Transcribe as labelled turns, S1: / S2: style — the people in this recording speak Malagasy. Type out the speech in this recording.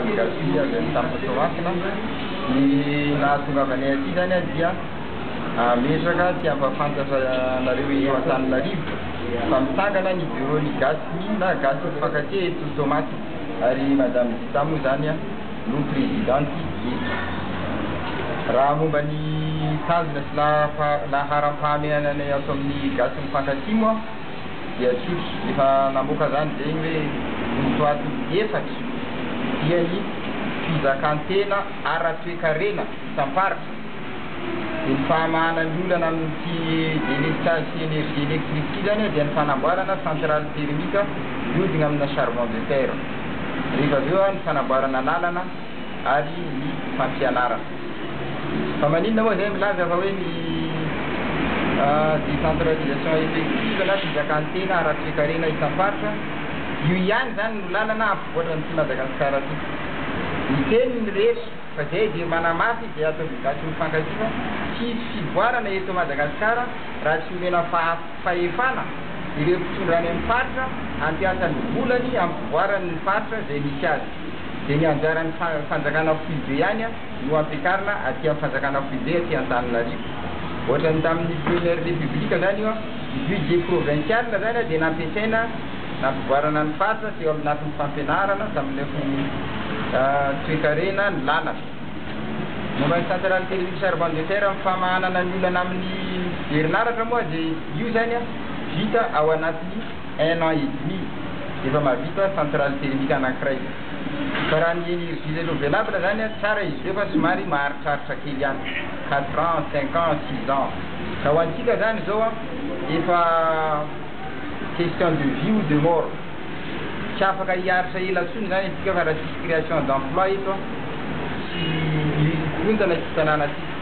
S1: Merci avy any tamin'ny Soavinà. Ny nahatongavanay aty zany aho dia hametraka sy hampahafantatra anareo eto Antananarivo fa mitsangana ny Bureau-n'ny Gasy na Gasy Mifankatia eto Toamasina ary Madame Zita moa zany no Présidente eto. Raha momba ny tanjona sy laharam-pahamehananay ato amin'ny Gasy Mifankatia moa, dia tsotra, efa namoaka izany dia ny hoe vontoaty efatra dia ny fizakan-tena ara-toekarena isam-paritra, dia ny fahamahana ny olana amin'ity électrage sy énergie électrique ity izany dia ny fanamboarana centrale thermique mihodina amina charbon de terre, rehefa avy eo ny fanamboarana lalana, ary ny fampianarana. Fa maninona moa izay milaza fa hoe ny décentralisation effective na fizakan-tena ara-toekarena isam-paritra? Io ihany izany no lalana hampivoatra an'ity Madagasikara ity. Miteny ny rehetra fa izay dia manamafy izay ataon'ny gasy mifankatia fa tsy hisy fivoarana eto Madagasikara raha tsy omena fahefana ireo mpitondra any amin'ny faritra hampiasa ny volany hampivoarany ny faritra izay misy azy. dia ny anjaran'ny fanjakana foibe ihany no ampiakarina aty amin'ny fanjakana foibe aty Antananarivo. Ohatran'ny tamin'ny première république zany io, ny budget provincial zany dia nampiasaina nampivoarana ny faritra teo amin'ny lafiny fampianarana, tamin'ny lafiny toekarena, ny lalana. Momba ny centrale thermique charbon de fer amin'ny famahanana ny olana amin'ny herinaratra moa dia io zany vita ao anatin'ny. un an et demi efa mahavita centrale thermique anankiray. Fa raha ny energie renouvelable zany tsara izy ireo fa somary maharitraritra kely ihany, quatre ans, cinq ans, six ans. Ka ho antsika zany zao efa question de vie ou de mort. Tsy afaka hiaritra ela tsony zany atsika fa raha tsisy creation d'emploi eto sy ny korontana eto tananantsika.